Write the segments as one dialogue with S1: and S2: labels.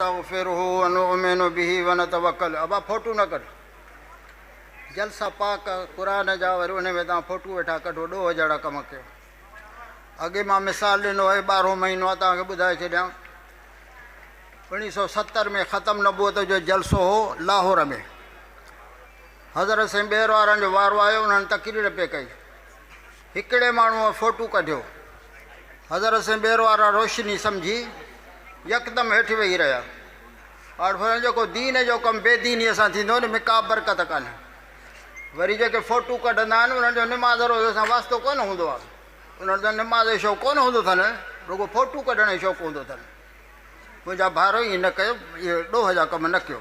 S1: نستغفره ونؤمن به ونتوکل ابا ڦوٽو نه ڪڍ جلسا پاڪ قرآن جا وري انهي ۾ توهان ڦوٽو ويٺا ڪڍو ڏوهه جهڙا ڪم ڪيو اڳي مان مثال ڏنو آهي ٻارهون مهينو آهي توهان کي ٻڌائي ڇڏيان اوڻيهه سو ستر ۾ ختم نبوت جو جلسو هو لاهور ۾ حضرت سائين ٻير وارن جو وارو آيو انهن تقرير پئي ڪئي هڪڙي ماڻهوء فوٽو ڪڍيو. حضرت سين ٻير وارا روشني سمجهي يڪدم هيٺ ويهي رهيا. آءڙ فرمايو جيڪو دين جو ڪم بي دينيء سان ٿيندو ان ۾ ڪا برڪت ڪانهي. وري جيڪي فوٽو ڪڍندا آهن انهن جو نماز روزي سان واسطو ڪونه هوندو آهي. انهن جو نماز جو شوق ڪونه هوندو اٿن رڳو فوٽو ڪڍڻ جو شوق هوندو اٿن. منهنجا ڀائرو ائين نه ڪيو اهي ڏوهه جا ڪم نه ڪيو.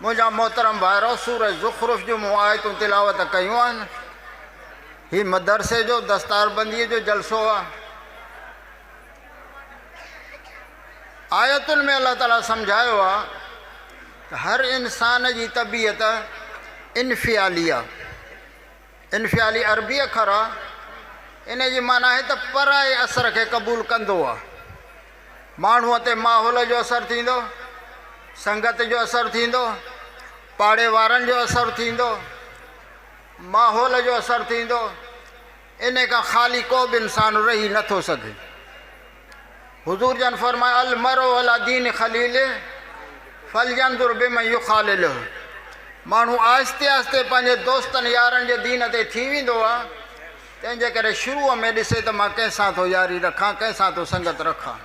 S1: منهنجا محترم ڀائرو سورة زخرف جون مون آيتون تلاوت ڪيون آهن. هي مدرسي جو دستاربنديء جو جلسو آهي. آيتن ۾ الله تعاليٰ سمجهايو آهي ته هر انسان جي طبيعت انفعالي آهي. انفعالي عربي اکر آ. انهيء جي معنيٰ آهي ته پرائي اثر کي قبول ڪندو آ. ماڻهوء تي ماحول جو اثر ٿيندو، سنگت جو اثر ٿيندو، پاڙي وارن جو اثر ٿيندو، ماحول جو اثر ٿيندو، انهيء کان خالي ڪو به انسان رهي نه ٿو سگهي. حضور جن فرمايو المرء علي دين خليله فلينظر بمن يخالله ماڻهو آهستي آهستي پنهنجي دوستن يارن جي دين تي ٿي ويندو آ تنهن جي ڪري شروع ۾ ڏسي ته مان ڪنهن سان ٿو ياري رکان ڪنهن سان ٿو سنگت رکان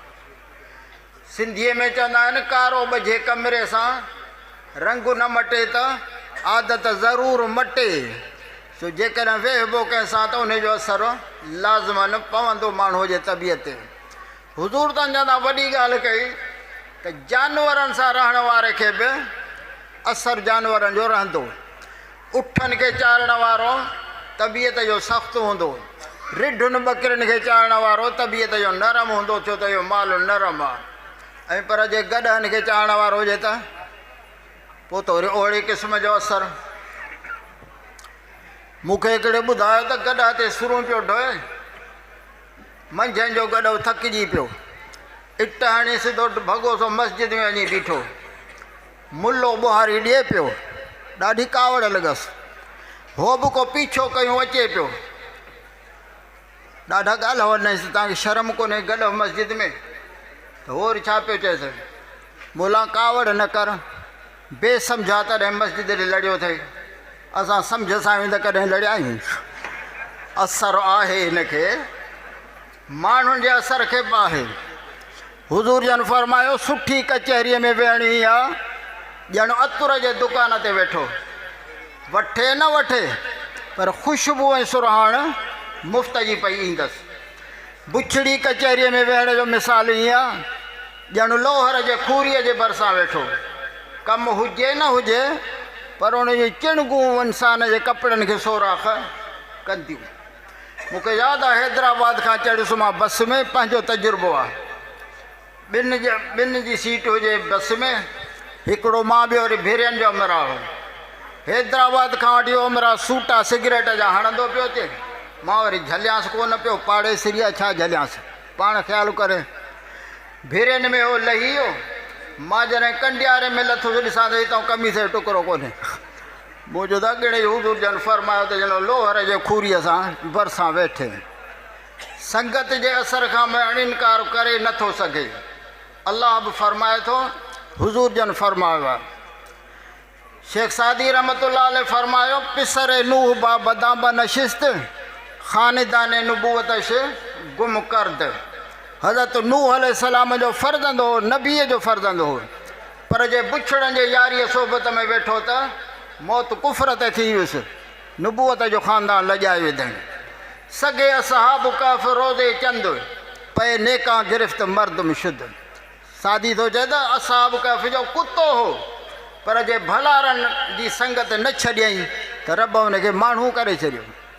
S1: سنڌي ۾ چوندا آهن ڪارو ٻجهي ڪمري سان رنگ نه مٽي ته عادت ضرور مٽي سو جيڪڏهن ويهبو ڪنهن سان ته انهي جو اثر لازماً پوندو ماڻهوء جي طبيعت تي. حضور تن جان تان وڏي ڳالهه ڪئي ته جانورن سان رهڻ واري کي به اثر جانورن جو رهندو. اٺن کي چارڻ وارو طبيعت جو سخت هوندو. رڍن ٻڪرين کي چارڻ وارو طبيعت جو نرم هوندو ڇو ته اهو مال نرم آهي ۽ پر جي گڏهن کي چارڻ وارو هجي ته پوء ته وري اهڙي قسم جو اثر. مون کي هڪڙي ٻڌايو ته گڏهه تي سرون پيو ڍوئي. منجهند جو گڏهه ٿڪجي پيو. اٽ هڻي سڌو ڀڳو سو مسجد ۾ وڃي بيٺو. ملو ٻهاري ڏئي پيو. ڏاڍي ڪاوڙ لڳس. هو به ڪو پيڇو ڪيون اچي پيو. ڏاڍا ڳالهاون نئس ته توهان کي شرم ڪونهي گڏهه مسجد ۾ ته هور ڇا پيو چئي سگهي مولان ڪاوڙ نه ڪر بي سمجها تڏهن مسجد ڏي لڙيو ٿئي اسان سمجهه سان آهيون ته ڪڏهن لڙيا آهيون اثر آهي هن کي ماڻهن جي اثر کي به آهي حضور جن فرمايو، سٺي ڪچهريء ۾ ويهڻ ائين آ، ڄڻ عطر جي دڪان تي ويٺو. وٺي نه وٺي، پر خوشبو ۽ سرهاڻ مفت جي پئي ايندس. بڇڙي ڪچهريء ۾ ويهڻ جو مثال ائين آ، ڄڻ لوهر جي کوريء جي ڀرسان ويٺو. ڪم هجي نه هجي، پر ان جون چڻگون انسان جي ڪپڙن کي سوراخ ڪنديون. مون کي ياد آ حيدرآباد کان چڙهيس مان بس ۾ پنهنجو تجربو آ ٻن جي ٻن جي سيٽ هجي بس ۾ هڪڙو مان ٻيو وري ڀيرين جو امرا هو حيدرآباد کان وٺي امرا سوٽا سگريٽ جا هڻندو پيو اچي مان وري جهليانس ڪونه پيو پاڙيسري آ ڇا جهليانس پاڻ خيال ڪري ڀيرين ۾ هو لهي ويو مان جڏهن ڪنڊياري ۾ لٿس ڏسان ته هتان قميص جو ٽڪرو ڪونهي موجود اڳڙي حضور جن فرمايو ته ڄڻ لوهر جي کوريء سان ڀرسان ويٺي سنگت جي اثر کان مئڻ انڪار ڪري نه ٿو سگهي. الله به فرمائي ٿو، حضور جن فرمايو آهي. شيخ سعدي رحمة الله عليه فرمايو، پسر نوح با بدان بنشست، خاندان نبوتش گم ڪرد. حضرت نوح عليه السلام جو فرزند هو، نبيء جو فرزند هو. پر جي بڇڙن جي ياريء صحبت ۾ ويٺو ته موت ڪفر تي ٿي ويس، نبوت جو خاندان لڄائي وڌين. سگهي اصحاب ڪهف روضي چند، پئي نيڪان گرفت مردم شد. سعدي ٿو چئي ته اصحاب ڪهف جو ڪتو هو، پر جي ڀلارن جي سنگت نه ڇڏيائين ته رب ان کي ماڻهو ڪري ڇڏيو.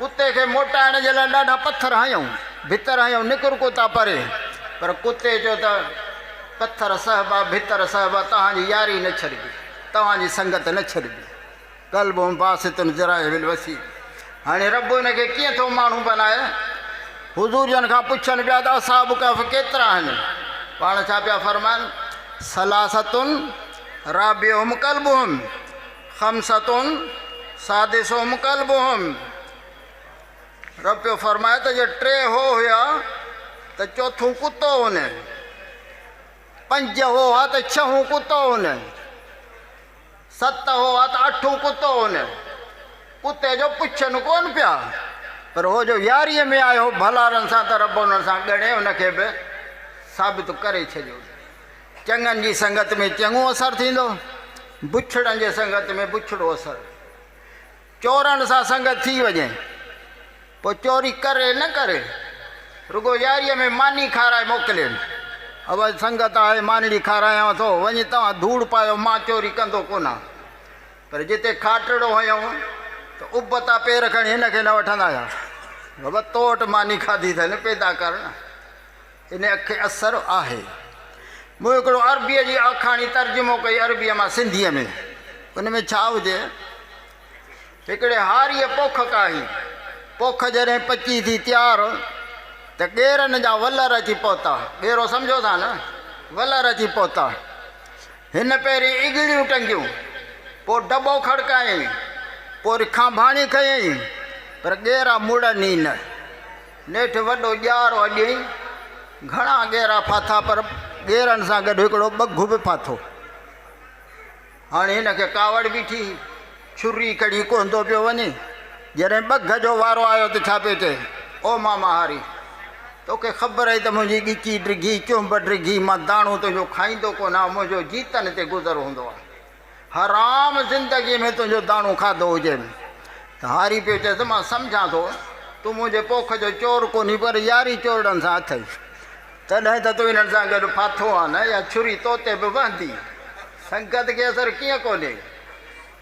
S1: ڪتي کي موٽائڻ جي لاء ڏاڍا پٿر هنيائون، ڀتر هنيائون، نڪر ڪتا پري. پر ڪتي چيو ته، پٿر سهبا، ڀتر سهبا، توهان جي ياري نه ڇڏبي، توهان جي سنگت نه ڇڏبي. قلب باسط ذراعه بالوسيل. هاڻي رب ان کي ڪيئن ٿو ماڻهو بنائي؟ حضور جن کان پڇن پيا ته اصحاب ڪهف ڪيترا آهن؟ پاڻ ڇا پيا فرمائن، ثلاثة رابعهم قلبهم. خمسة سادسهم ڪلبهم رب پيو فرمائي ته جي ٽي هو هيا ته چوٿون ڪتو هن پنج هو ها ته ڇهون ڪتو هن ست هو ها ته اٺون ڪتو هن ڪتي جو پڇن ڪون پيا پر هو جو ياريء ۾ آيو ڀلارن سان ته رب انهن سان ڳڻي ان کي به ثابت ڪري ڇڏيو چڱن جي سنگت ۾ چڱو اثر ٿيندو، بڇڙن جي سنگت ۾ بڇڙو اثر. چورن سان سنگت ٿي وڃي، پوء چوري ڪري نه ڪري، رڳو ياريء ۾ ماني کارائي موڪلين. اوهائي سنگت آهي، مانيڙي کارايانء ٿو، وڃي توهان ڌوڙ پايو، مان چوري ڪندو ڪونه. پر جتي کاٽڙو هنيو ته ابتا پير کڻي هن کي نه وٺندا هيا. بابا تو وٽ ماني کاڌي اٿئي نه، پيدا ڪر نه. ان کي اثر آهي. مون هڪڙو عربيء جي آکاڻي ترجمو ڪئي عربيء مان سنڌيء ۾. ان ۾ ڇا هجي؟ هڪڙي هاريء پوک ڪاهي. پوک جڏهن پچي ٿي تيار ته ڳيرن جا ولر اچي پهتا. ڳيرو سمجهو ٿا نه؟ ولر اچي پهتا. هن پهرين اڳڙيون ٽنگيون. پوء ڊٻو کڙڪايائين. پوري کانڀاڻي کنيائين. پر ڳيرا مڙن ئي نه. نيٺ وڏو ڄارو اڄيئي گهڻا ڳيرا ڦاٿا پر ڳيرن سان گڏ هڪڙو ٻگهه به ڦاٿو. هاڻي هن کي ڪاوڙ بيٺي هئي. ڇري ڪڙي ڪهندو پيو وڃي. جڏهن ٻگهه جو وارو آيو ته ڇا پيو چئي، او ماما هاري! توکي خبر اهي ته منهنجي ڳچي ڊگهي، چنب ڊگهي، مان داڻو تنهنجو کائيندو ڪونه آهيان، منهنجو جيتن تي گذر هوندو آهي. حرام زندگيء ۾ تنهنجو داڻو کاڌو هجي ته هاري پيو چيس، مان سمجهان ٿو تون منهنجي پوک جو چور ڪونهي پر ياري چورڙن سان اٿئي، تڏهن ته تون انهن سان گڏ ڦاٿو آنء يا ڇري تو تي به وهندي. سنگت کي اثر ڪيئن ڪونهي؟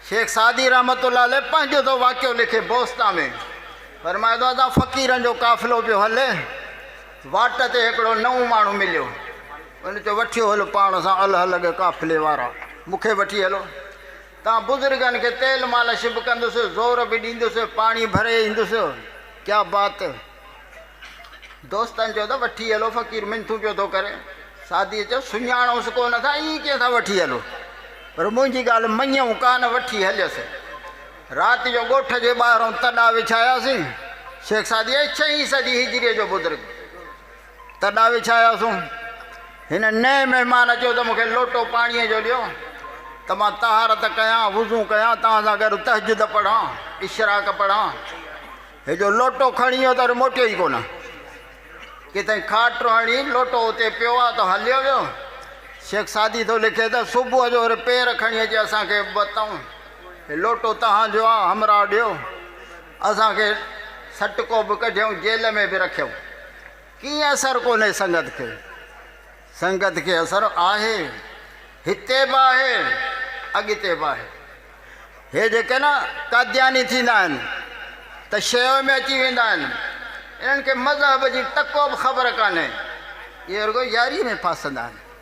S1: شيخ سعدي رحمة الله عليه پنهنجو ٿو واقعو لکي بوستا ۾ فرمائي ٿو ته فقيرن جو قافلو پيو هلي واٽ تي هڪڙو نئون ماڻهو مليو، ان چيو، وٺيو هل پاڻ سان الهه لڳ قافلي وارا، مون کي وٺي هلو. تان بزرگن کي تيل مالش به ڪندس، زور به ڏيندس، پاڻي ڀري ايندس. ڪيا بات! دوستن چيو ته وٺي هلو، فقير منٿون پيو ٿو ڪري. سعديء چيو، سڃاڻوس ڪونه ٿا، ائين ڪيئن ٿا وٺي هلو؟ پر منهنجي ڳالهه مڃيو ڪانه، وٺي هليس. رات جو ڳوٺ جي ٻاهرئون تڏا وڇاياسين. شيخ سعدي اهي ڇهين صدي هجريء جو بزرگ. تڏا وڇاياسون. هن نئين مهمان چيو ته مون کي لوٽو پاڻيء جو ڏيو ته مان طهارت ڪيان، وضو ڪيان، توهان سان گڏ تهجد پڙهان، اشراق پڙهان. هي جو لوٽو کڻي ويو ته وري موٽيو ئي ڪونه. ڪيتائين کاٽ هڻي لوٽو اتي پيو آ ته هليو ويو. شيخ سعدي ٿو لکي ته صبح جو وري پير کڻي اچي اسان کي به پتائون. هي لوٽو توهان جو آ، همراهه ڏيو. اسان کي سٽڪو به ڪڍيئون جيل ۾ به رکيئون ڪيئن اثر ڪونهي سنگت کي سنگت کي اثر آهي هتي به آهي اڳتي به آهي هي جيڪي نه قادياني ٿيندا آهن ته شيو ۾ اچي ويندا آهن انهن کي مذهب جي ٽڪو به خبر ڪانهي اهي رڳو ياري ۾ ڦاسندا آهن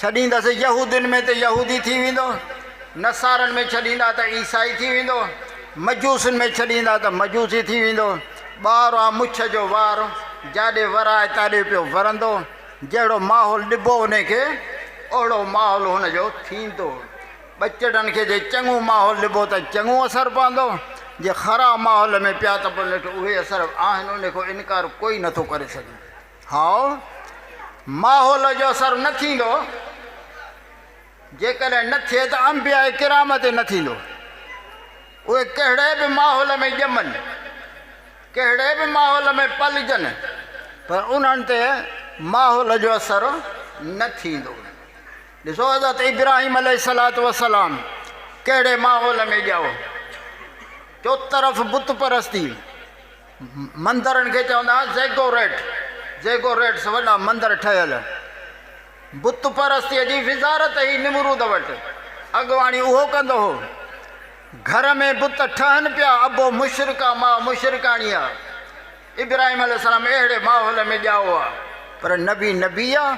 S1: ڇڏيندس يهودين ۾ ته يهودي ٿي ويندو، نصارن ۾ ڇڏيندا ته عيسائي ٿي ويندو، مجوسين ۾ ڇڏيندا ته مجوسي ٿي ويندو. ٻار آ مڇ جو وار، جاڏي ورائي تاڏي پيو ورندو. جهڙو ماحول ڏبو ان کي، اهڙو ماحول هن جو ٿيندو. ٻچڙن کي جي چڱو ماحول ڏبو ته چڱو اثر پوندو، جي خراب ماحول ۾ پيا ته پوء نيٺ اهي اثر آهن، ان کان انڪار ڪوئي نٿو ڪري سگهي. هاء ماحول جو اثر نه ٿيندو، جيڪڏهن نه ٿئي ته انبياء ڪرام تي نه ٿيندو، اهي ڪهڙي به ماحول ۾ ڄمن، ڪهڙي به ماحول ۾ پلجن پر انهن تي ماحول جو اثر نه ٿيندو. ڏسو حضرت ابراهيم عليه الصلاة والسلام ڪهڙي ماحول ۾ ڄائو، چوطرف بت پرستي، مندرن کي چوندا ھئا زيگوريٽ، Ziggurats، وڏا مندر ٺهيل. بت پرستيء جي وزارت ھئي نمرود وٽ، اڳواڻي اھو ڪندو ھو. گھر ۾ بت ٺهن پيا، ابو مشرڪه، ماء مشرڪاڻيء. ابراھيم عليه السلام اھڙي ماحول ۾ ڄائو ھئا. پر نبي نبي آ،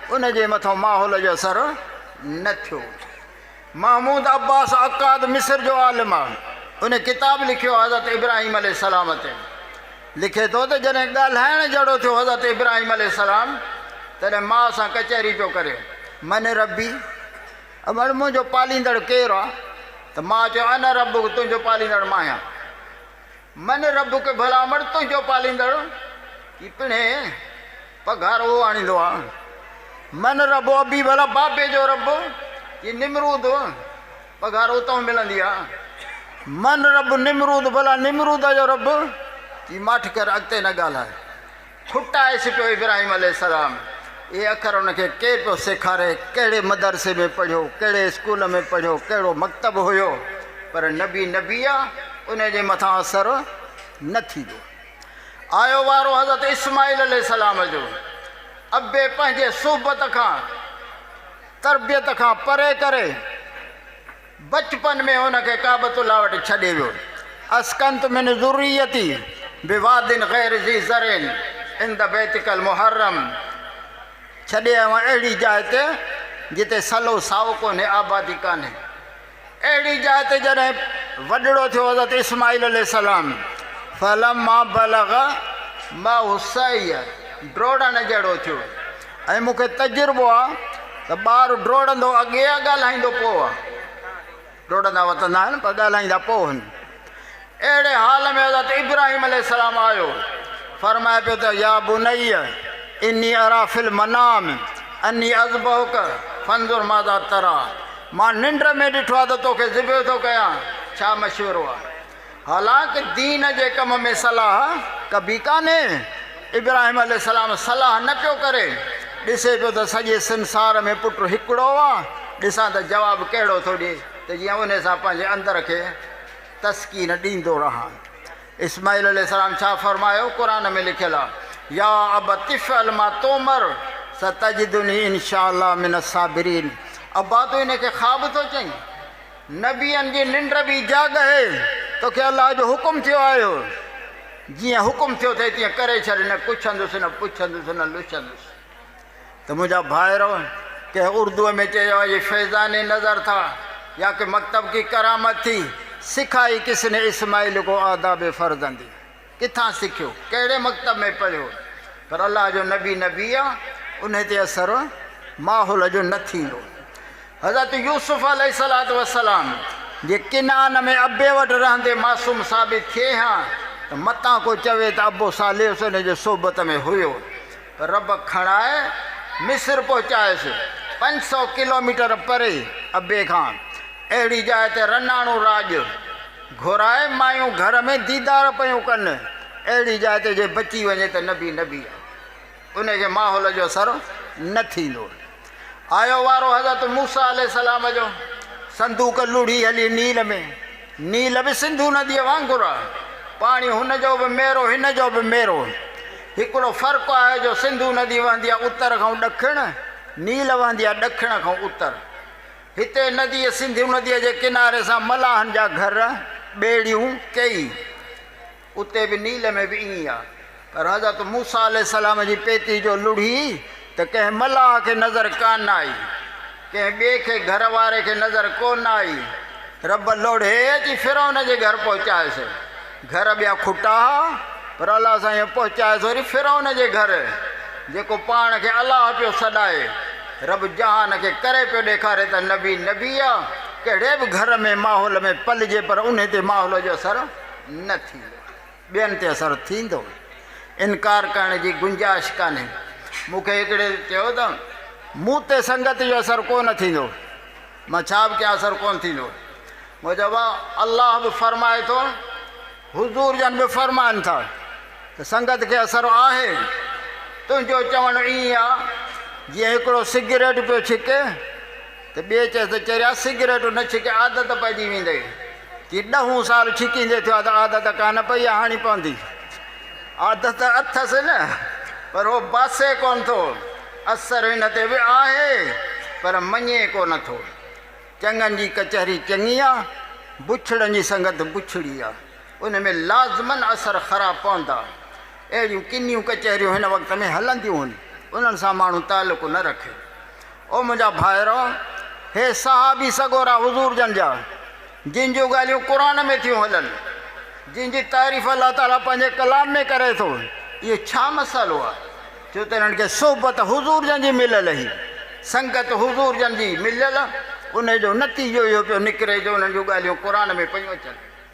S1: ان جي مٿو ماحول جو اثر نه ٿيو. محمود عباس عقاد مصر جو عالم آهي. ان ڪتاب لکيو حضرت ابراهيم عليه السلام تي. لکي ٿو ته جڏهن ڳالهائڻ جهڙو ٿيو حضرت ابراهيم عليه السلام تڏهن ماء سان ڪچهري پيو ڪري، من ربي؟ اٻڙ منهنجو پاليندڙ ڪير آ؟ ته ماء چيو انا ربک تنهنجو پاليندڙ مان آهيان. من ربک ڀلا اٻڙ تنهنجو پاليندڙ ڪي پڻ هي؟ پگهار اهو آڻيندو آ. من رب ابي ڀلا بابي جو رب جي نمرود پگهار اتئون ملندي آ. من رب نمرود ڀلا نمرودا جو رب جي ماٺ ڪر اڳتي نه ڳالهاء. ڦٽائي سٽيو ابراهيم عليه السلام اهي اکر ان کي ڪير پيو سيکاري ڪهڙي مدرسي ۾ پڙهيو ڪهڙي اسڪول ۾ پڙهيو ڪهڙو مڪتب هيو پر نبي نبي آ انهي جي مٿان اثر نه ٿيندو. آيو وارو حضرت اسماعيل عليه السلام جو ابي پنهنجي صحبت کان تربيت کان پري ڪري بچپن ۾ ان کي ڪعبت الله وٽ ڇڏي ويو اسڪنت من ذريتي بواد غير ذي زرع عند بيتك المحرم ڇڏي آيو اهڙي جاء تي جتي سلو سائو ڪونهي آبادي ڪانهي اهڙي جاء تي جڏهن وڏڙو ٿيو حضرت اسماعيل عليه السلام فلما بلغ معه السعي ڊوڙڻ جهڙو ٿيو ۽ مون کي تجربو آ ته ٻار ڊوڙندو اڳي آ ڳالهائيندو پوء آ ڊوڙندا وتندا آهن پر ڳالهائيندا پوء آهن اهڙي حال ۾ حضرت ابراهيم عليه السلام آيو، فرمائي پيو ته يا بني اني ارا في المنام اني اذبحک فانظر ماذا ترا، مان ننڊ ۾ ڏٺو آهي ته توکي ذبح ٿو ڪيان، ڇا مشورو آهي؟ حالانڪ دين جي ڪم ۾ صلاح ڪبي ڪانهي، ابراهيم عليه السلام صلاح نه پيو ڪري، ڏسي پيو ته سڄي سنسار ۾ پٽ هڪڙو آ، ڏسان ته جواب ڪهڙو ٿو ڏئي. ته جيئن انهي سان پنهنجي اندر کي تسڪين ڏيندو رهان. اسماعيل عليه السلام ڇا فرمايو؟ قرآن ۾ لکيل آهي، يا ابت افعل ما تؤمر ستجدني ان شاء الله من الصابرين ابا تون انهي کي خواب ٿو چئين؟ نبين جي ننڊ به جاڳ هي، توکي الله جو حڪم ٿيو آهيو، جيئن حڪم ٿيو اٿئي تيئن ڪري ڇڏ، نه ڪڇندس نه پڇندس نه لڇندس. ته منهنجا ڀائرو! ڪنهن اردوء ۾ چيو آهي، يي فيضان نظر ٿا يا ڪي مڪتب ڪي ڪرامت ٿي، سکائي ڪس ني اسماعيل ڪو آداب فرزندي، ڪٿان سکيو، ڪهڙي مڪتب ۾ پڙهيو، پر الله جو نبي نبي آ، انهي تي اثر ماحول جو نه ٿيندو. حضرت يوسف عليه الصلوة والسلام جي ڪنعان ۾ ابي وٽ رهندي معصوم ثابت ٿئي ها ته متان ڪو چوي ته ابو صالح حسين جي صحبت ۾ هيو. رب کڻائي مصر پهچايس، پنج سؤ ڪلوميٽر پري ابي کان، اهڙي جاء تي رناڻو راڄ گهرائي مايون گهر ۾ ديدار پيون ڪن، اهڙي جاء تي جي بچي وڃي ته نبي نبي آهي، ان کي ماحول جو اثر نه ٿيندو. آيو وارو حضرت موسيٰ عليه السلام جو صندوق لڙهي هلي نيل ۾، نيل به سنڌو نديء وانگر آ، پاڻي هن جو به ميرو هن جو به ميرو، هڪڙو فرق آهي جو سنڌو ندي وهندي آ اتر کان ڏکڻ، نيل وهندي آ ڏکڻ کان اتر. هتي نديء سنڌو نديء جي ڪناري سان ملاحن جا گهر، ٻيڙيون، ڪيئي. اتي به نيل ۾ به ائين ئي آ پر حضرت موسيٰ عليه السلام جي پيتي جو لڙهي ته ڪنهن ملاح کي نظر ڪانه آئي ڪنهن ٻئي کي گهر واري کي نظر ڪونه آئي رب لڙهي اچي فرعون جي گهر پهچائس گهر ٻيا کٽا ها پر الله سائين پهچائس وري فرعون جي گهر جيڪو پاڻ کي الله پيو سڏائي رب جهان کي ڪري پيو ڏيکاري ته نبي نبي آ ڪهڙي به گهر ۾ ماحول ۾ پلجي پر انهي تي ماحول جو اثر نه ٿيندو آهي، ٻين تي اثر ٿيندو آهي، انڪار ڪرڻ جي گنجائش ڪانهي. مون کي هڪڙي چيو ته مون تي سنگت جو اثر ڪو نه ٿيندو، مان ڇا به ڪيان اثر ڪونه ٿيندو. مون چيو ڀاء الله به فرمائي ٿو، حضور جن به فرمائن ٿا ته سنگت کي اثر آهي، تنهنجو چوڻ ائين آهي جيئن هڪڙو سگريٽ پيو ڇڪي، ته ٻئي چيس ته چريا سگريٽ نه ڇڪي عادت پئجي ويندئي. ڪي ڏهون سال ڇڪيندي ٿيو آهي ته عادت ڪانه پئي آهي هاڻي پوندي. عادت اٿس نه پر هو باسي ڪونه ٿو. اثر هن تي به آهي پر مڃي ڪونه ٿو. چڱن جي ڪچهري چڱي آ، بڇڙن جي سنگت بڇڙي آ. ان ۾ لازمن اثر خراب پوندا. اهڙيون ڪنيون ڪچهريون هن وقت ۾ هلنديون هن. انهن سان ماڻهو تعلق نه رکي. او منهنجا ڀائرؤ! هي صحابي سڳورا حضور جن جا، جن جون ڳالهيون قرآن ۾ ٿيون هلن، جن جي تعريف الله تعاليٰ پنهنجي ڪلام ۾ ڪري ٿو، اهو ڇا مسئلو آهي، جو ته انهن کي صحبت حضور جن جي مليل هئي، سنگت حضور جن جي مليل، انهيء جو نتيجو اهو پيو نڪري جو انهن جون ڳالهيون قرآن ۾ پيون اچن.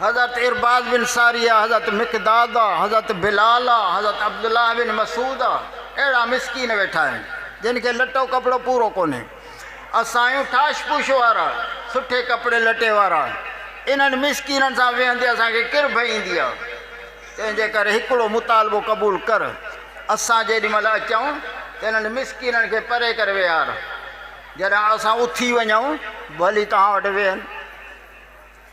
S1: حضرت عرباض بن ساريه، حضرت مقداد، حضرت بلال، حضرت عبدالله بن مسعود اهڙا مسڪين ويٺا آهن، جن کي لٽو ڪپڙو پورو ڪونهي. اسان آهيون ٺاش پوش وارا، سٺي ڪپڙي لٽي وارا. انهن مسڪينن سان ويهندي اسان کي ڪرڀ ايندي آهي. تنهن جي ڪري هڪڙو مطالبو قبول ڪر، اسان جيڏي مهل اچون ته انهن مسڪينن کي پري ڪري ويهار. جڏهن اسان اٿي وڃون، ڀلي توهان وٽ ويهن.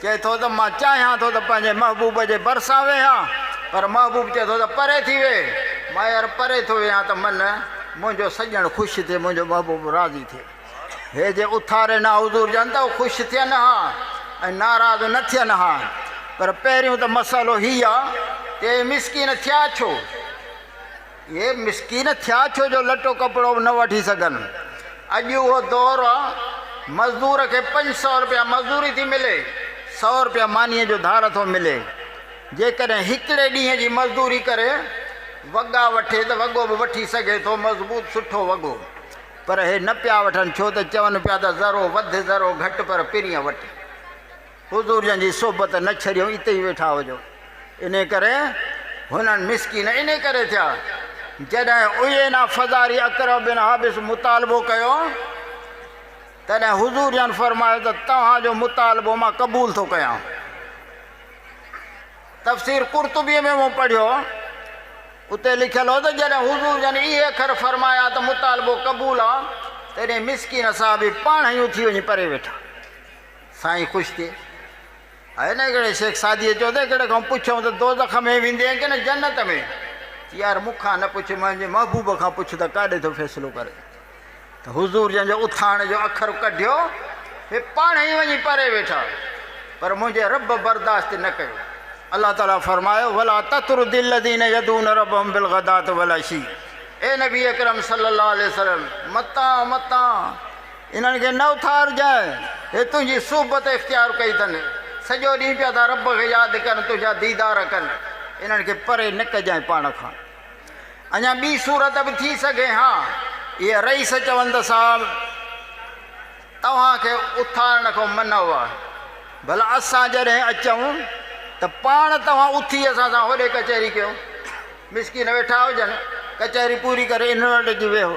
S1: چئي ٿو ته مان چاهيان ٿو ته پنهنجي محبوب جي ڀرسان ويهان پر محبوب چئي ٿو ته پري ٿي ويهه مير پري ٿو ويهان ته من منهنجو سڄڻ خوش ٿئي منهنجو محبوب راضي ٿئي هي جي اٿاري نه حضور جن ته هو خوش ٿين ها ۽ ناراض نه ٿين ها پر پهريون ته مسئلو هي آ ته اي مسڪين ٿيا ڇو؟ اهي مسڪين ٿيا ڇو جو لٽو ڪپڙو به نه وٺي سگهن. اڄ اهو دور آ مزدور کي پنج سؤ رپيا مزدوري ٿي ملي، سؤ رپيا مانيء جو ڌار ٿو ملي. جيڪڏهن هڪڙي ڏينهن جي مزدوري ڪري وڳا وٺي ته وڳو به وٺي سگهي ٿو مضبوط سٺو وڳو. پر اهي نه پيا وٺن ڇو ته چون پيا ته ذرو وڌ ذرو گهٽ پر پرينء وٽ. حضور جن جي صحبت نه ڇڏيو اتي ئي ويٺا هجو انهي ڪري هنن مسڪين انهي ڪري ٿيا جڏهن عيينه فزاري اقرع بن حابس مطالبو ڪيو تڏهن حضور جن فرمايو ته توهان جو مطالبو مان قبول ٿو ڪيان تفسير قرطبي ۾ مون پڙهيو اتي لکيل هو ته جڏهن حضور جن اهي اکر فرمايا ته مطالبو قبول آ تڏهن مسڪين صاحب پاڻ هيون ٿي وڃي پري ويٺا سائين خوش ٿئي ها نه ڪهڙي شيخ سعديء چيو ته ڪهڙي کان پڇيائون ته دوزخ ۾ ويندين ڪنه جنت ۾؟ چي يار مون کان نه پڇ منهنجي محبوب کان پڇ ته ڪاڏي ٿو فيصلو ڪري ته حضور جنهن جو اٿاڻ جو اکر ڪڍيو اهي پاڻهي ئي وڃي پري ويٺا پر منهنجي رب برداشت نه ڪيو الله تعالي فرمايو ولا تطرد الذين يدعون ربهم بالغداة والعشي اي نبي اڪرم صلي الله عليه وسلم متان متان انهن کي نه اٿارجانء، اهي تنهنجي صحبت اختيار ڪئي اٿن، سڄو ڏينهن پيا ٿا رب کي ياد ڪن، تنهنجا ديدار ڪن، انهن کي پري نه ڪجانء پاڻ کان. اڃا ٻي صورت به ٿي سگهي ها. اهي رئيس چون ته صاحب! توهان کي اٿارڻ کان منع هئا، ڀلا اسان جڏهن اچون ته پاڻ توهان اٿي اسان سان هوڏي ڪچهري ڪيو. مسڪين ويٺا هجن، ڪچهري پوري ڪري انهن وٽ اچي ويهو.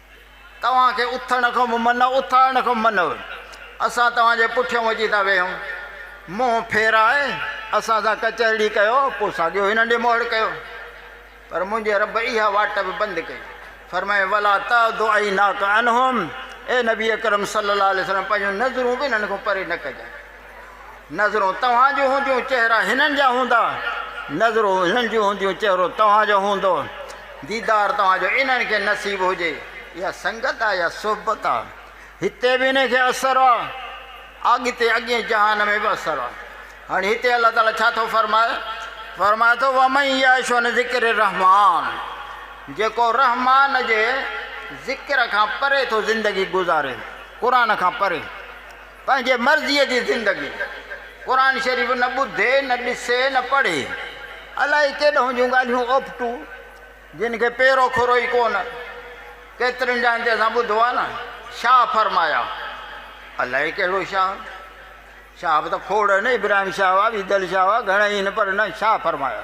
S1: توهان کي اٿڻ کان به منع، اٿارڻ کان به منع. اسان توهان جي پٺيان وڄي ٿا ويهون. منهن ڦيرائي اسان سان ڪچهرڙي ڪيو، پوء ساڳيو هنن ڏي مهڙ ڪيو. پر منهنجي رب اها واٽ به بند ڪئي. فرمايائين، ولا تعد عيناڪ عنهم، اي نبي اڪرم صلي الله عليه وسلم پنهنجون نظرون به هنن کان پري نه ڪجانء. نظرون توهان جون هونديون چهرا هنن جا هوندا نظرون هنن جون هونديون چهرو توهان جو هوندو ديدار توهان جو انهن کي نصيب هجي اها سنگت آ يا صحبت آ هتي به انهي کي اثر آ اڳتي اڳين جهان ۾ به اثر آ هاڻي هتي الله تعالي ڇا ٿو فرمائي فرمائي ٿو ومن يعش عن ذڪر الرحمان جيڪو رحمان جي ذڪر کان پري ٿو زندگي گذاري قرآن کان پري پنهنجي مرضيء جي زندگي قرآن شريف نه ٻڌي، نه ڏسي، نه پڙهي. الائي ڪيڏهون جون ڳالهيون اوپٽو، جن کي پيرو کورو ئي ڪو نه. ڪيترين جاين تي اسان ٻڌو آهي نه، شاهه فرمايا. الائي ڪهڙو شاهه؟ شاهه به ته کوڙ آهن، ابراهيم شاهه هئا، ويدل شاهه هئا، گهڻا ئي آهن پر نه، شاهه فرمايا.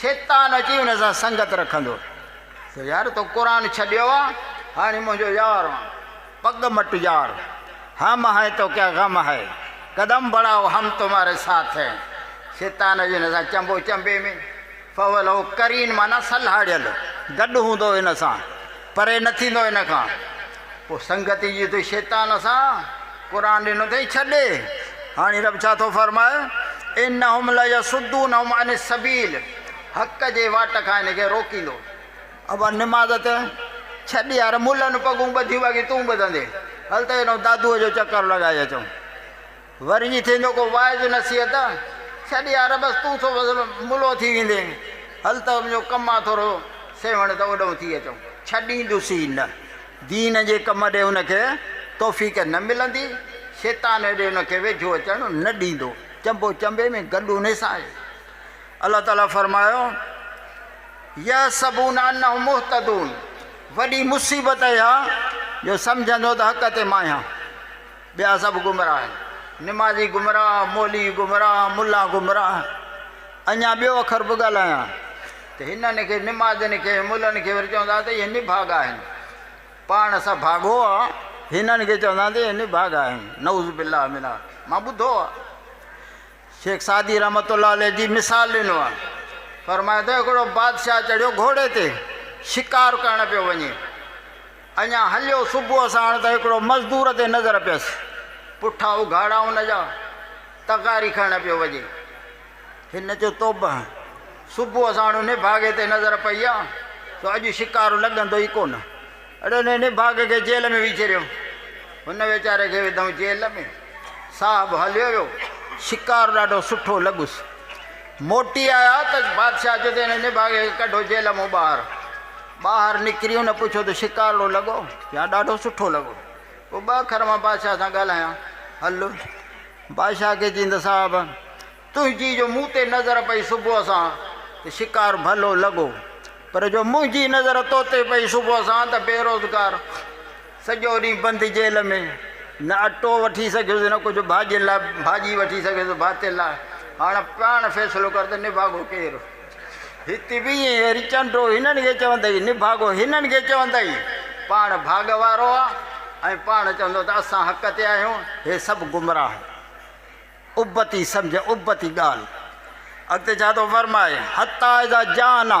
S1: شيطان اچي ان سان سنگت رکندو ته يار تو قرآن ڇڏيو آ هاڻي منهنجو يار آن پڳ مٽ يار هم هين تو ڪيا غم هي قدم بڙهاؤ هم تمهاري ساٿ هين شيطان اچي ان سان چنبو چنبي ۾ فولو قرين معنيٰ سلهاڙيل گڏ هوندو ان سان پري نه ٿيندو ان کان پوء سنگتي جي تون شيطان سان قرآن ڏنو اٿئي ڇڏي هاڻي رب ڇا ٿو فرمائي انهم ليصدونهم عن السبيل حق جي واٽ کان هن کي روڪيندو ابا نماز ته ڇڏ يار ملن پڳون ٻڌيون باقي تون ٻڌندي هل ته هيڏو دادوء جو چڪر لڳائي اچون وري جي ٿيندو ڪو واعظ نصيحت، ڇڏ يار بس تون ٿو وزن ملو ٿي ويندين، هل ته منهنجو ڪم آ ٿورو سيوهڻ ته اوڏهون ٿي اچون. ڇڏيندس ئي نه، دين جي ڪم ڏي هن کي توفيق نه ملندي، شيطان هيڏي هن کي ويجهو اچڻ نه ڏيندو. چنبو چنبي ۾ گڏ انهي سان آهي. الله تعالي فرمايو، يحسبون انهم مهتدون، وڏي مصيبت اها جو سمجهندو ته حق تي مان آهيان. ٻيا سڀ گمراهه آهن. نمازي گمراهه، مولوي گمراهه، ملا گمراهه. اڃا ٻيو اکر به ڳالهايان ته هنن کي، نمازين کي، ملن کي وري چوندا ته اهي نڀاڳا آهن. پاڻ اسان ڀاڳو آ، هنن کي چوندا ته اهي نڀاڳا آهن. نعوذ بالله من آ. مان ٻڌو آ. شيخ سعدي رحمة الله عليه جي مثال ڏنو آ. فرمايو ته هڪڙو بادشاهه چڙهيو گهوڙي تي، شڪار ڪرڻ پيو وڃي. اڃا هليو صبح ساڻ ته هڪڙو مزدور تي نظر پيس. پٺا اگهاڙا ان جا، تغاري کڻڻ پيو وڃي. هن چيو توبه! صبح ساڻ ان نڀاڳي تي نظر پئي آ، سو اڄ شڪار لڳندو ئي ڪونه. اڙي ان نڀاڳي کي جيل ۾ وجهي رهيو. هن ويچاري کي وڌئون جيل ۾. صاحب هليو ويو. شڪار ڏاڍو سٺو لڳس. موٽي آيا ته بادشاهه چيو ته ان نڀاڳي کي ڪڍو جيل مون ٻاهر. ٻاهر نڪري هن پڇيو ته شڪارڙو لڳو يا ڏاڍو سٺو لڳو؟ پوء ٻه اکر مان بادشاهه سان ڳالهايان هل. بادشاهه کي چين ته صاحب! تنهنجي جو مون تي نظر پئي صبح سان ته شڪار ڀلو لڳو، پر جو منهنجي نظر تو تي پئي صبح سان ته بيروزگار. سڄو ڏينهن بند جيل ۾ نه اٽو وٺي سگهيس نه ڪجهه ڀاڄين لاء ڀاڄي وٺي سگهيس ڀاتين لاء هاڻ پاڻ فيصلو ڪر ته نڀاڳو ڪير هتي به ائين هري چنڊو هنن کي چوندئي نڀاڳو هنن کي چوندئي پاڻ ڀاڳ وارو آ ۽ پاڻ چوندو ته اسان حق تي آهيون هي سڀ گمراهه ابتي سمجهه ابتي ڳالهه اڳتي ڇا ٿو فرمائي حتا اذا جانا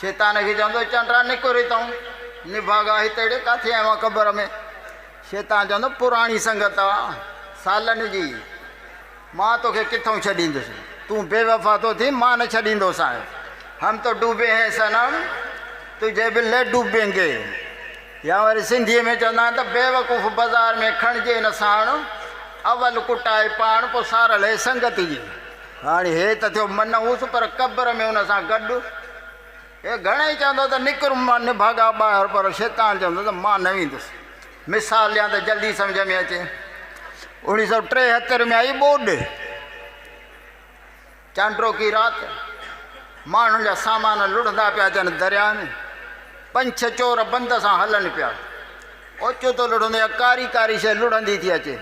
S1: شيطان کي چوندو، چانڊرا نڪر هتئون، نڀاڳا هتيڙي ڪاٿي آيو آهين قبر ۾؟ شيطان چوندو، پراڻي سنگت آ سالن جي، مان توکي ڪٿئون ڇڏيندس، تون بي وفا ٿو ٿين، مان نه ڇڏيندوسانء، هم تو ڊوبي هين صنم، تجهي به لي ڊوبينگي، يا وري سنڌيء ۾ چوندا آهن ته بيوقوف بازار ۾ کڻجي نه ساڻ، اول ڪٽائي پاڻ، پوء سارل هي سنگت جي. هاڻي هي ته ٿيو منحوس پر قبر ۾ ان سان گڏ هي گهڻئي چوندو ته نڪر مان نڀاڳا ٻاهر پر شيطان چوندو ته مان نه ويندس. مثال ڏيان ته جلدي سمجهه ۾ اچي. اوڻيهه سؤ ٽيهتر ۾ آئي ٻوڏ. چانڊروڪي رات ماڻهن جا سامان لڙهندا پيا اچن درياهه ۾ پنج ڇهه چور بند سان هلن پيا. اوچتو لڙهندو يا ڪاري ڪاري شيء لڙهندي ٿي اچي.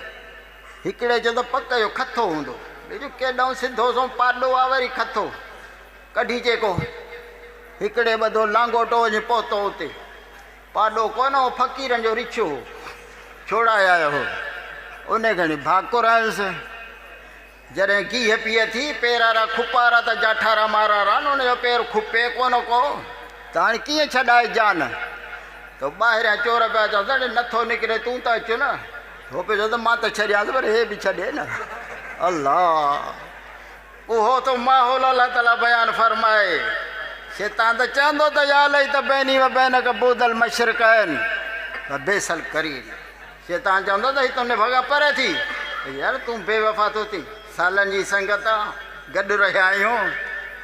S1: هڪڙي جو ته پڪ جو کٿو هوندو، ٻئي جو ڪيڏانهن سڌو سنئون پاڏو آ وري کٿو ڪڍي چيڪو هڪڙي ٻڌو لانگوٽو وڃي پهتو اتي پاڏو ڪونه هو فقيرن جو رڇو هو ڇوڙائي آيو هو انهي کڻي ڀاڪر هنس جڏهن گيهه پيئي ٿي پيرارا کپارا ته جاٺارا مارارا نه ان جو پير کپي ڪونه ڪو ته هاڻي ڪيئن ڇڏائي جان تو ٻاهريان چور پيا چون ته اڙي نٿو نڪري تون ته اچ نه هو پئي چئي ته مان ته ڇڏيانس پر هي به ڇڏي نه الله اهو ٿو ماحول الله تعالي بيان فرمائي شيطان ته چوندو ته يا لئي ته بيني و بينڪ بود المشرقين و بيس القرين شيطان چوندو ته هي تنهن ڀڳا پري ٿي يار تون بي وفا ٿو ٿي سالن جي سنگت گڏ رهيا آهيون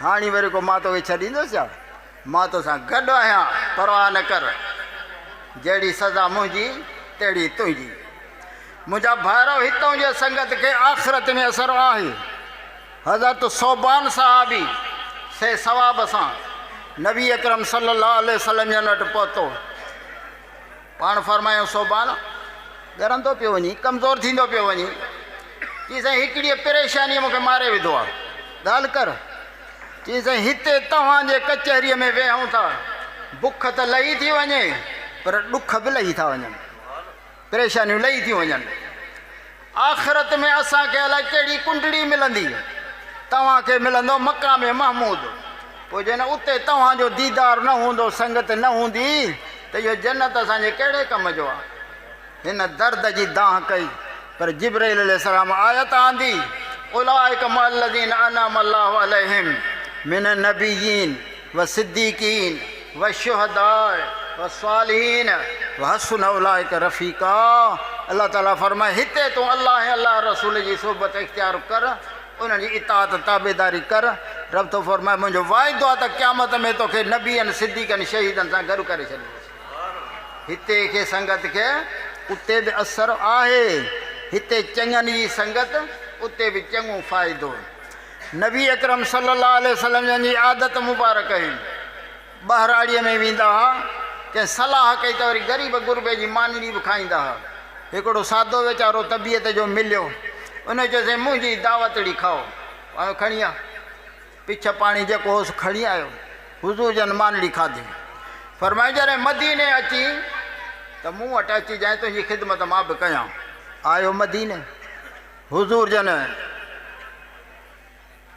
S1: هاڻي وري ڪو مان توکي ڇڏيندس ڇا مان تو سان گڏ آهيان پرواهه نه ڪر، جهڙي سزا منهنجي تهڙي تنهنجي. منهنجا ڀائرو هتئون جي سنگت کي آخرت ۾ اثر آهي. حضرت ثوبان صحابي سهي ثواب سان نبي اڪرم صلي الله عليه وسلم جن وٽ پهتو. پاڻ فرمايائون صوبان ڳرندو پيو وڃين، ڪمزور ٿيندو پيو وڃين. چيائين سائين هڪڙيء پريشانيء مون کي ماري وڌو آ. ڳالهه ڪر. چيائين سائين هتي توهان جي ڪچهريء ۾ ويهون ٿا، بک ته لهي ٿي وڃي پر ڏک به لهي ٿا وڃن. پريشانيون لهي ٿيون وڃن. آخرت ۾ اسان کي الائي ڪهڙي ڪنڊڙي ملندي، توهان کي ملندو مقام محمود، پوء جڏهن اتي توهان جو ديدار نه هوندو، سنگت نه هوندي ته اهو جنت اسان جي ڪهڙي ڪم جو آ؟ هن درد جي دانهن ڪئي، پر جبرئيل عليه السلام آيت آندي، اولئک مع الذين انعم الله عليهم من النبيين. والصديقين والشهداء والصالحين وحسن اولئک رفيقا الله تعالي فرمائي هتي تون الله ۽ الله جي رسول جي صحبت اختيار ڪر انهن جي اطاعت ۽ تابعداري ڪر رب ٿو فرمائي منهنجو وعدو آهي ته قيامت ۾ توکي نبين صديقن شهيدن سان گڏ ڪري ڇڏيندس هتي کي سنگت کي اتي به اثر آهي هتي چڱن جي سنگت اتي به چڱو فائدو نبي اڪرم صلي الله عليه وسلم جن جي عادت مبارڪ هئي، ٻهراڙيء ۾ ويندا ها، ڪنهن صلاح ڪئي ته وري غريب غربي جي مانيڙي به کائيندا ها. هڪڙو سادو ويچارو طبيعت جو مليو، ان چيسين منهنجي ئي دعوتڙي کائو، آيو کڻي آ، پڇ پاڻي جيڪو هوس کڻي آيو، حضور جن مانيڙي کاڌي، فرمايائين جڏهن مديني اچين ته مون وٽ اچجانء تنهنجي خدمت مان به ڪيان، آيو مديني. حضور جن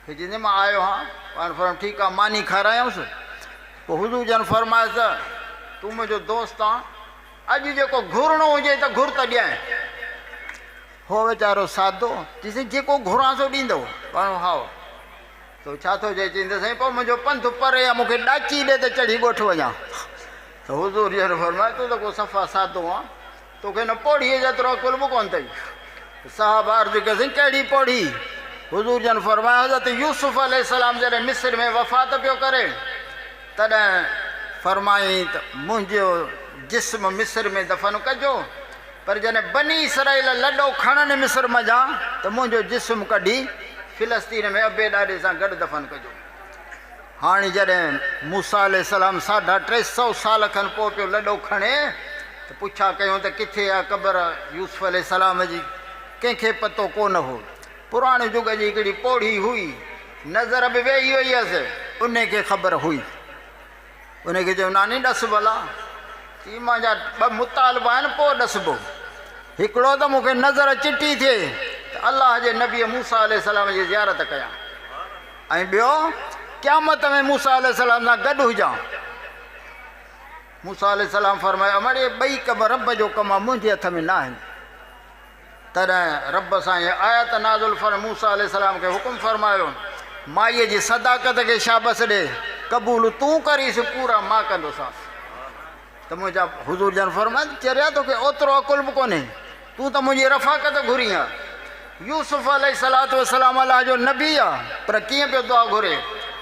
S1: کي چيندي مان آيو هان پاڻ فرمايو ٺيڪ آ ماني کارايانس پوء حضور جن فرمايس ته تون منهنجو دوست آن اڄ جيڪو گهرڻو هجي ته گهر ته ڏيانء هو ويچارو سادو چيسي جيڪو گهران سو ڏيندو پاڻ هاو تو ڇا ٿو چئي چيندي سائين پوء منهنجو پنٿ پري آ مونکي ڏاچي ڏي ته چڙهي ڳوٺ وڃان ته حضور جن فرمايو تو ته ڪو صفا سادو آن توکي نه پوڙهيء جيترو عقل به ڪونه اٿئي. صحابه عرض ڪيسين، ڪهڙي پوڙهي؟ حضور جن فرمايو، حضرت يوسف عليه السلام جڏهن مصر ۾ وفات پيو ڪري، تڏهن فرمائين ته منهنجو جسم مصر ۾ دفن ڪجو، پر جڏهن بني اسرائيل لڏو کڻن مصر منجهان ته منهنجو جسم ڪڍي فلسطين ۾ ابي ڏاڏي سان گڏ دفن ڪجو. هاڻي جڏهن موسيٰ عليه السلام ساڍا ٽي سؤ سال کن پوء پيو لڏو کڻي ته پڇا ڪيون ته ڪٿي آ قبر يوسف عليه السلام جي؟ ڪنهن کي پتو ڪو نه هو. پراڻي جڳ جي هڪڙي پوڙهي هئي، نظر به ويهي وئي هيس، انهي کي خبر هئي. انهي کي چيو ناني ڏس ڀلا، چي مان جا ٻه مطالبا آهن پوء ڏسبو. هڪڙو ته مون کي نظر چٽي ٿئي ته الله جي نبي موسيٰ عليه السلام جي زيارت ڪيان. ۽ ٻيو، قيامت ۾ موسيٰ عليه السلام سان گڏ هجان. موسيٰ عليه السلام فرمايو، اڙي ٻئي ڪم رب جو ڪم آ، منهنجي هٿ ۾ ناهن. تڏهن رب سان هيء آيت نازل فرمائي موسيٰ عليه السلام کي حڪم فرمايو، مائيء جي صداقت کي شابس ڏي، قبول تون ڪريس، پورا مان ڪندوسانس. ته منهنجا حضور جن فرمايو، چريا توکي اوترو عقل به ڪونهي، تون ته منهنجي رفاقت گهرين ها. يوسف عليه الصلوة والسلام الله جو نبي آ پر ڪيئن پيو دعا گهري،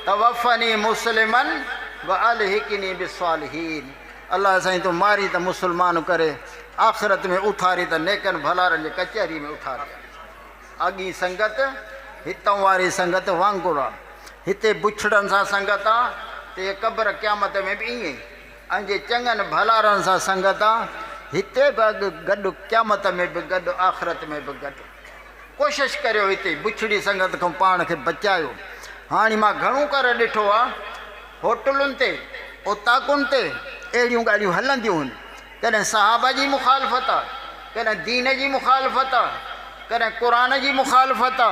S1: توفني مسلما والحقني بالصالحين، الله سائين تون مارين ته مسلمان ڪري آخرت ۾ اٿارين ته نيڪن ڀلارن جي ڪچهري ۾ اٿارين. اڳين سنگت هتئون واري سنگت وانگر آ، هتي بڇڙن سان سنگت آ ته هيء قبر قيامت ۾ به ائين ئي. ان جي چڱن ڀلارن سان سنگت آ، هتي به اڳ گڏ قيامت ۾ به گڏ آخرت ۾ به گڏ. ڪوشش ڪريو هتي بڇڙي سنگت کان پاڻ کي بچايو. هاڻي مان گهڻو ڪر ڏٺو آ هوٽلن تي اوطاقن تي اهڙيون ڳالهيون هلنديون هن ڪڏهن صحابه جي مخالفت آ ڪڏهن دين جي مخالفت آ ڪڏهن قرآن جي مخالفت آ.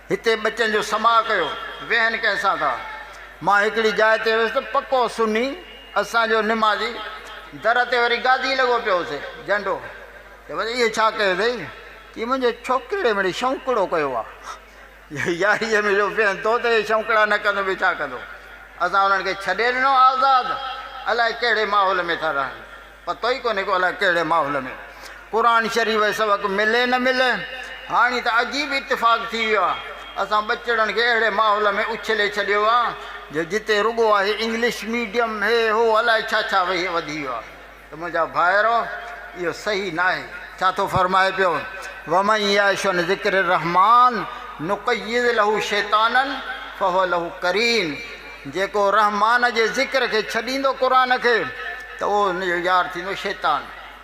S1: هتي ٻچن جو سماء ڪيو، ويهن ڪنهن سان ٿا. مان هڪڙي جاء تي ويس ته پڪو سني، اسان جو نمازي، در تي وري گادي لڳو پيو هوسي، جنڊو. چيومانس اهو ڇا ڪيو اٿئي؟ چي منهنجي ڇوڪرڙي مڙي شونڪڙو ڪيو آ. ياريء ۾ جو ويهن ٿو ته اهي شونڪڙا نه ڪندو ٻيو ڇا ڪندو. اسان انهن کي ڇڏي ڏنو آزاد، الائي ڪهڙي ماحول ۾ ٿا رهن. پتو ئي ڪونهي ڪو الاء ڪهڙي ماحول ۾ قرآن شريف جو سبق ملي نه ملي. هاڻي ته عجيب اتفاق ٿي ويو آهي. اسان ٻچڙن کي اهڙي ماحول ۾ اڇلي ڇڏيو آهي جو جتي رڳو آهي انگلش ميڊيم هي هو الاء ڇا ڇا وهي وڌي ويو آهي ته منهنجا ڀائرو اهو صحيح ناهي. ڇا ٿو فرمائي پيو ومن يعش عن ذڪر الرحمان نقيض له شيطانا فهو له قرين. جيڪو رحمان جي ذڪر کي ڇڏيندو قرآن کي ته اهو ان جو يار ٿيندو شيطان.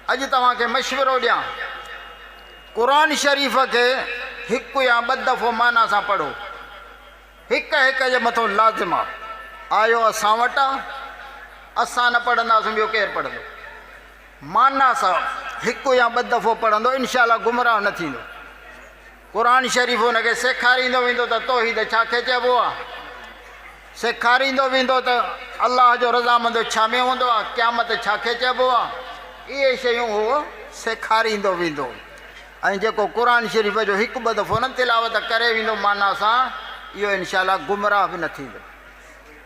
S1: اڄ توهان کي مشورو ڏيان قرآن شريف کي هڪ يا ٻه دفعو معنيٰ سان پڙهو. هڪ هڪ جي مٿو لازم آ. آيو اسان وٽ آ. اسان نه پڙهنداسون ٻيو ڪير پڙهندو. معنيٰ سان هڪ يا ٻه دفعو پڙهندو انشاء الله گمراهه نه ٿيندو. قرآن شريف ان کي سيکاريندو ويندو ته توحيد ڇا کي چئبو آهي، سيکاريندو ويندو ته الله جو رضامندو ڇا ۾ هوندو آهي، قيامت ڇا کي چئبو آهي، اهي شيون هو سيکاريندو ويندو ۽ جيڪو قرآن شريف جو هڪ ٻه دفعو نه تلاوت ڪري ويندو معنيٰ سان، اهو انشاء الله گمراهه به نه ٿيندو.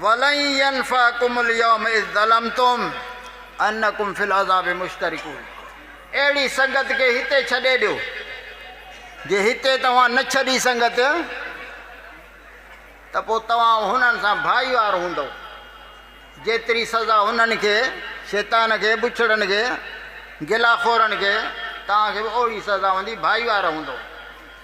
S1: ولن ينفعکم اليوم اذ ظلمتم انکم في العذاب مشترکون اهڙي سنگت کي هتي ڇڏي ڏيو جي هتي توهان نه ڇڏي سنگت ته پوء توهان هنن سان ڀائيوار هوندو جيتري سزا هنن کي شيطان کي بڇڙن کي گلا خورن کي توهان کي به اهڙي سزا هوندي ڀائيوار هوندو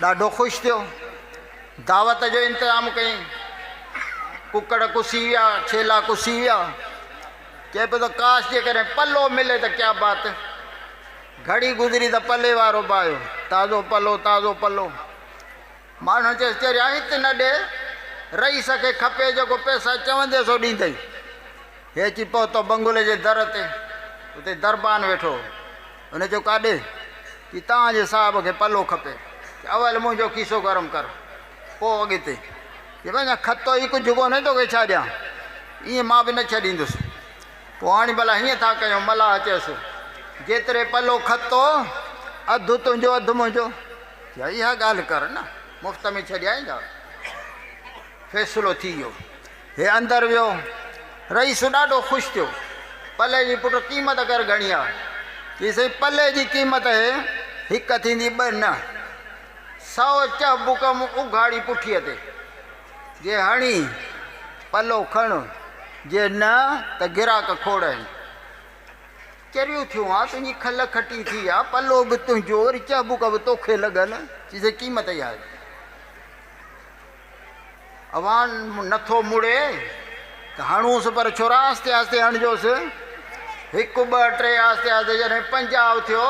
S1: ڏاڍو خوش ٿيو. دعوت جو انتظام ڪيائين. ڪڪڙ ڪسي ويا، ڇيلا ڪسي ويا. چئي پيو ته ڪاش جيڪڏهن پلو ملي ته ڪيا بات. گهڙي گذري ته پلي وارو به آيو. تازو پلو، تازو پلو. ماڻهن چيس چريا هت نه ڏي. رئيس کي کپي جيڪو پئسا چوندين سو ڏيندئي. هي اچي پهتو بنگلي جي در تي. اتي دربان ويٺو هو. هن چيو ڪاڏي ٿي توهان جي صاحب کي پلو کپي چي اول منهنجو کيسو گرم ڪر پوء اڳتي چي وڃ کتو ئي ڪجهه ڪونهي توکي ڇا ڏيان ايئن مان به نه ڇڏيندس پوء هاڻي ڀلا هيئن ٿا ڪيون ملاح چيس جيتري پلو کتو اڌ تنهنجو اڌ منهنجو چي اها ڳالهه ڪر نه مفت ۾ ڇڏيائيندا فيصلو ٿي ويو هي اندر ويو. رئيس ڏاڍو خوش ٿيو. پلئه جي پٽ قيمت ڪر گهڻي آ؟ چيس سائين پلئه جي قيمت هي هڪ ٿيندي ٻه نه. سؤ چهه بڪم اگهاڙي پٺيء تي. جي هڻي پلو کڻ جي نه ته گراڪ کوڙين. چريو ٿيو آن تنهنجي کل کٽي ٿي آ. پلو به تنهنجو وري چهه بڪ به توکي لڳن. چيس سائين قيمت اها هي. اوهان نه ٿو مڙي ته هڻونس پر ڇورا آهستي آهستي هڻجوس هڪ ٻه ٽي آهستي آهستي جڏهن پنجاهه ٿيو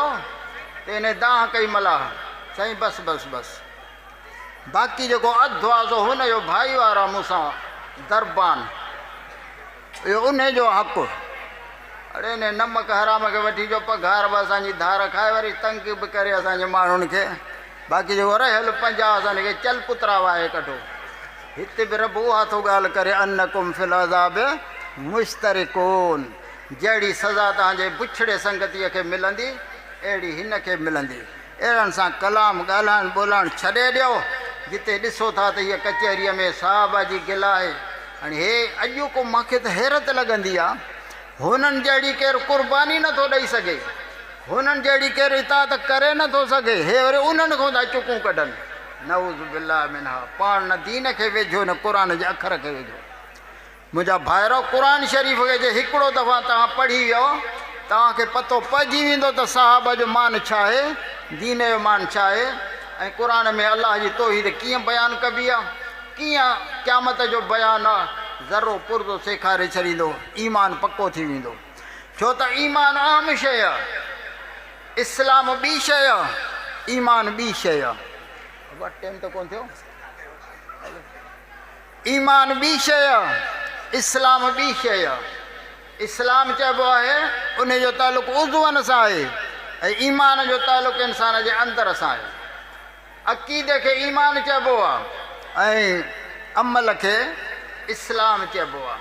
S1: ته انهي دانهن ڪئي ملاح سائين بس بس بس باقي جيڪو اڌ هو سو هن جو ڀائيوار آهي مون سان دربان اهو انهي جو حق هو. اڙي انهي نمڪ حرام کي وٺي جو پگهار به اسان جي ڌار کائي وري تنگ به ڪري اسان جي ماڻهن کي باقي جيڪو رهيل پنجاهه اسان کي چل پترا وهائي ڪڍو. هتي به رب اها ٿو ڳالهه ڪري انڪم في العذاب مشترڪون جهڙي سزا توهان جي بڇڙي سنگتيء کي ملندي اهڙي هن کي ملندي. اهڙن سان ڪلام ڳالهائڻ ٻولهائڻ ڇڏي ڏيو، جتي ڏسو ٿا ته هيء ڪچهريء ۾ صاحبه جي گل آهي. هاڻي هي اڄوڪو مان کي ته حيرت لڳندي آ. هنن جهڙي ڪير قرباني نه ٿو ڏئي سگهي. هنن جهڙي ڪير اطاعت ڪري نه ٿو سگهي. هي وري انهن کان ٿا چڪون ڪڍن. نعوذ بالله منها. پاڻ نه دين کي ويجهو نه قرآن جي اکر کي ويجهو. منهنجا ڀائرو قرآن شريف کي جي هڪڙو دفعا توهان پڙهي ويو توهان کي پتو پئجي ويندو ته صحابه جو مان ڇا آهي دين جو مان ڇا آهي ۽ قرآن ۾ الله جي توحيد ڪيئن بيان ڪبي آهي ڪيئن قيامت جو بيان آهي ذرو پرزو سيکاري ڇڏيندو ايمان پڪو ٿي ويندو ڇو ته ايمان اهم شيء آهي اسلام ٻي شيء آهي ايمان ٻي شيء آهي ٽيم ته ڪون ٿيو ايمان ٻي شيء آ اسلام ٻي شيء آ اسلام چئبو آهي انهي جو تعلق عضون سان آهي ۽ ايمان جو تعلق انسان جي اندر سان آهي عقيدي کي ايمان چئبو آ ۽ عمل کي اسلام چئبو آ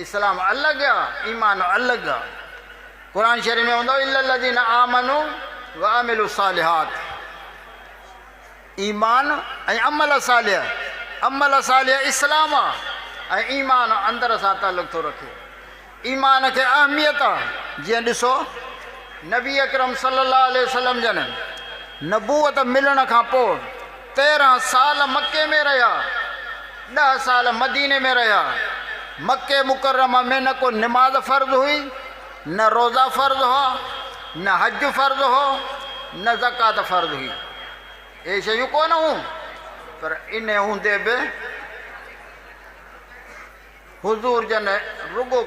S1: اسلام الڳ آ ايمان الڳ آ قرآن شريف ۾ هوندو الا الذين آمنوا وعملوا الصالحات ايمان ۽ عمل صالح، عمل صالح اسلام آ ۽ ايمان اندر سان تعلق ٿو رکي. ايمان کي اهميت آ جيئن ڏسو نبي اڪرم صلي الله عليه وسلم جن نبوت ملڻ کان پوء تيرنهن سال مڪي ۾ رهيا، ڏهه سال مديني ۾ رهيا، مڪي مڪرمه ۾ نه ڪو نماز فرض هئي، نه روزا فرض هئا، نه حج فرض هو، نه زڪوات فرض هئي. اهي شيون ڪونه هون، پر ان هوندي به حضور جن رڳو